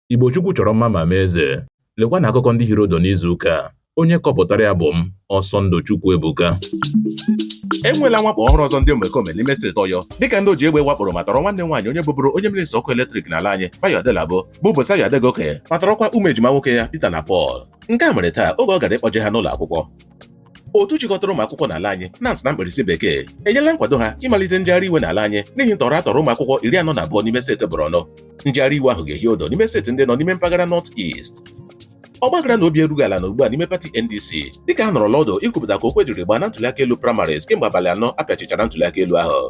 Igbo Chukwu chọrọ mma ma mee eze. Lekwa na akụkọ ndị hiri odo n'izu ụka a. Onye kọpụtara ya bụ m, Ọsọndụ Chukwuebuka. enwela mwakpo ọhụrụ ọzọ ndị omekome n'ime steeti ọyọ dịka ndị oji egbe wakporo ma tọrọ nwanne nwaanyị onye bụburu onye minista ọkụ eletrik n'ala anyị bayo adelabu bụ busayo adegoke ma tọrọkwa ụmụ ejima nwoke ya peter na paul nke a mere taa oge ọ gara ịkpọje ha n'ụlọ akwụkwọ otu chịkọtara ụmụ akwụkwọ n'ala anyị NANS na mkpirisi bekee enyela nkwado ha ịmalite njegharị iwe n'ala anyị n'ihi ntọrọ atọrọ ụmụ akwụkwọ iri anọ na abụọ n'ime steeti Borno njegharị iwe ahụ ga-ehi odo n'ime steeti ndị nọ n'ime mpaghara North East ọgbaghara na obi erughị ala na ugbu a n'ime pati NDC dịka a nọrọla ọdụ ikwupụta ka okwe jiri gbaa na ntụliaka elu primaries kemgbe abalị anọ apịachichara ntụliaka elu ahụ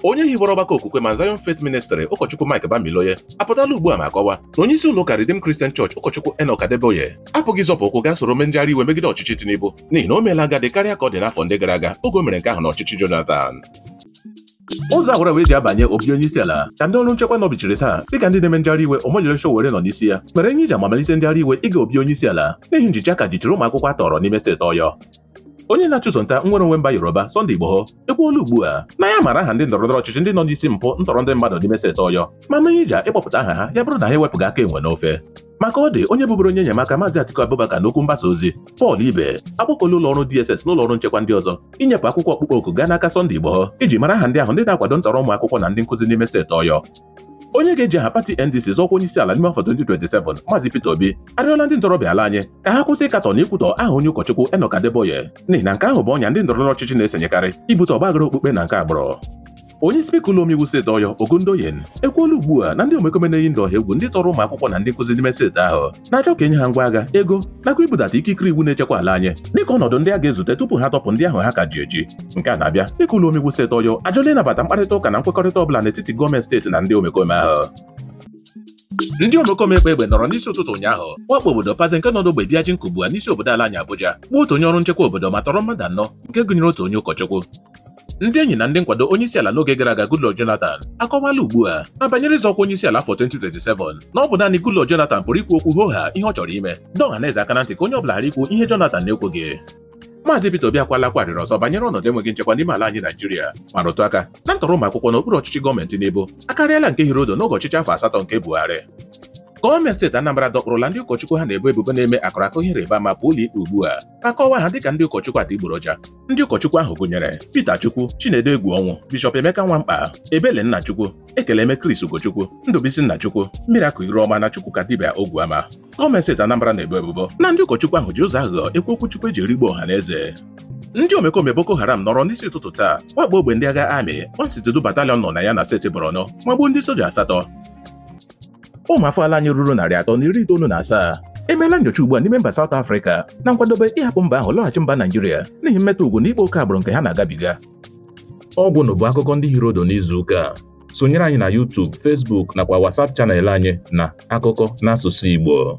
onye hiwere ọgbakọ okwukwe Mount Zion Faith Ministry ụkọchukwu Mike Bamiloye apụtala ugbu a ma kọwaa na onye isi ụlọ ụka Redeemed Christian Church ụkọchukwu Enoch Adeboye apụghị ịzọpụ ụkwụ gaa soro mee njegharị iwe megide ọchịchị Tinubu n'ihi na o meela agadi karịa ka ọ dị n'afọ ndị gara aga oge o mere nke ahụ n'ọchịchị Jonathan ụzọ awara wee ji abanye obi onye isi ala ka ndị ọrụ nchekwa nọbichiri taa dịka ndị na-eme njegharị iwe Omoyele Sowore nọ n'isi ya mere ihe iji amamalite njegharị iwe ịga obi onye isi ala n'ihi njichi aka jichiri ụmụ akwụkwọ atọrọ n'ime steeti Ọyọ Onye na-achụso nta nnwere onwe mba Yoruba Sunday Igboho ekwuola ugbu a na ya mara aha ndị ndọrọndọrọ ọchịchị ndị nọ n'isi mpụ ntọrọ ndị mmadụ n'ime steeti Ọyọ ma mee iji ịkpọpụta aha ha ya bụrụ na ha ewepụghị aka enwe n'ofe maka ọ dị onye bụburu onye enyemaka maazị Atiku Abubakar n'okwu mgbasa ozi Paul Ibe akpọkuola ụlọ ọrụ DSS na ụlọ ọrụ nchekwa ndị ọzọ inyepụ akwụkwọ ọkpụkpọ oku gaa n'aka Sunday Igboho iji mara aha ndị ahụ ndị na-akwado ntọrọ ụmụ akwụkwọ na ndị nkụzi n'ime steeti Ọyọ onye ga-eji aha pati NDC zọọ ọkwa onye isi ala n'ime afọ 2027 Maazị Peter Obi arịọla ndị ntorobịa ala anyị ka ha kwụsị ịkatọ na ikwutọ aha onye ụkọchukwu Enoch Adeboye n'ihi na nke ahụ bụ ọnya ndị ndọrọndọrọ ọchịchị na-esenyekarị ibute ọgbaghara okpukpe na nke agbụrụ onye spika ụlọ omeiwu steeti ọyọ Ogundoyin ekwuola ugbu a na ndị omekome na-eyi ndụ ọha egwu ndị tọrọ ụmụ akwụkwọ na ndị nkụzi n'ime steeti ahụ na-achọ ka enye ha ngwa agha ego nakwa ibudata ikikere iwu na-echekwa ala anyị dịka ọnọdụ ndị a ga-ezute tupu ha tọpụ ndị ahụ ha ka ji eji nke a na-abịa dịka ụlọ omeiwu steeti ọyọ ajụla ịnabata mkparịta ụka na nkwekọrịta ọbụla n'etiti gọọmenti steeti na ndị omekome ahụ ndị omekome ekpe egbe nọrọ n'isi ụtụtụ ụnyaahụ wakpo obodo paze nke nọ n'ogbe Byazhin Kubwa n'isi obodo ala anyị Abuja gbuo otu onye ọrụ nchekwa obodo ma tọrọ mmadụ anọ nke gụnyere otu onye ụkọchukwu ndị enyi na ndị nkwado onyeisiala n'oge gara aga Goodluck Jonathan akọwala ugbu a na banyere ịzọ ọkwa onyeisiala afọ 2027 na ọ bụ naanị Goodluck Jonathan pụrụ ikwu okwu hooha ihe ọ chọrọ ime dọọ ọha na eze aka na ntị ka onye ọ bụla ghara ikwu ihe Jonathan na-ekwughị Maazị Peter Obi akwala akwa arịrị ọzọ banyere ọnọdụ enweghị nchekwa n'ime ala anyị Naijiria ma rụtụ aka na ntọrọ ụmụ akwụkwọ n'okpuru ọchịchị gọọmenti Tinubu akarịala nke hiri odo n'oge ọchịchị afọ asatọ nke Buhari gọọmenti steeti Anambra dọkpụrụla ndị ụkọchukwu ha na-ebo ebubo na-eme akụrakụ ihe ịrịba ama pụọ ụlọikpe ugbu a ma kọwaa ha dịka ndị ụkọchukwu adịgboroja ndị ụkọchukwu ahụ gụnyere Peter Chukwu Chinedu Egwuọnwụ Bishọp Emeka Nwankpa Ebele Nnachukwu Ekeleme Chris Ugochukwu Ndụbisi Nnachukwu Miracle Iruọma na Chukwukadibia Ogwuama gọọmenti steeti Anambra na-ebo ebubo na ndị ụkọchukwu ahụ ji ụzọ aghụghọ ekwu okwu Chukwu eji erigbu ọha na eze ndị omekome Boko Haram nọrọ n'isi ụtụtụ taa wakpo ogbe ndị agha amị 162 Battalion nọ na ya na steeti Borno ma gbuo ndị soja asatọ ụmụ afọ ala anyị ruru narị atọ na iri itoolu na asaa emeela nyocha ugbu a n'ime mba South Africa na nkwadobe ịhapụ mba ahụ lọghachi mba Naijiria n'ihi mmetọ ugwu na ịkpa oke agbụrụ nke ha na-agabiga ọ bụ ha bụ akụkọ ndị hiri odo n'izu ụka a sonyere anyị na YouTube, Facebook nakwa WhatsApp channel anyị na akụkọ n'asụsụ Igbo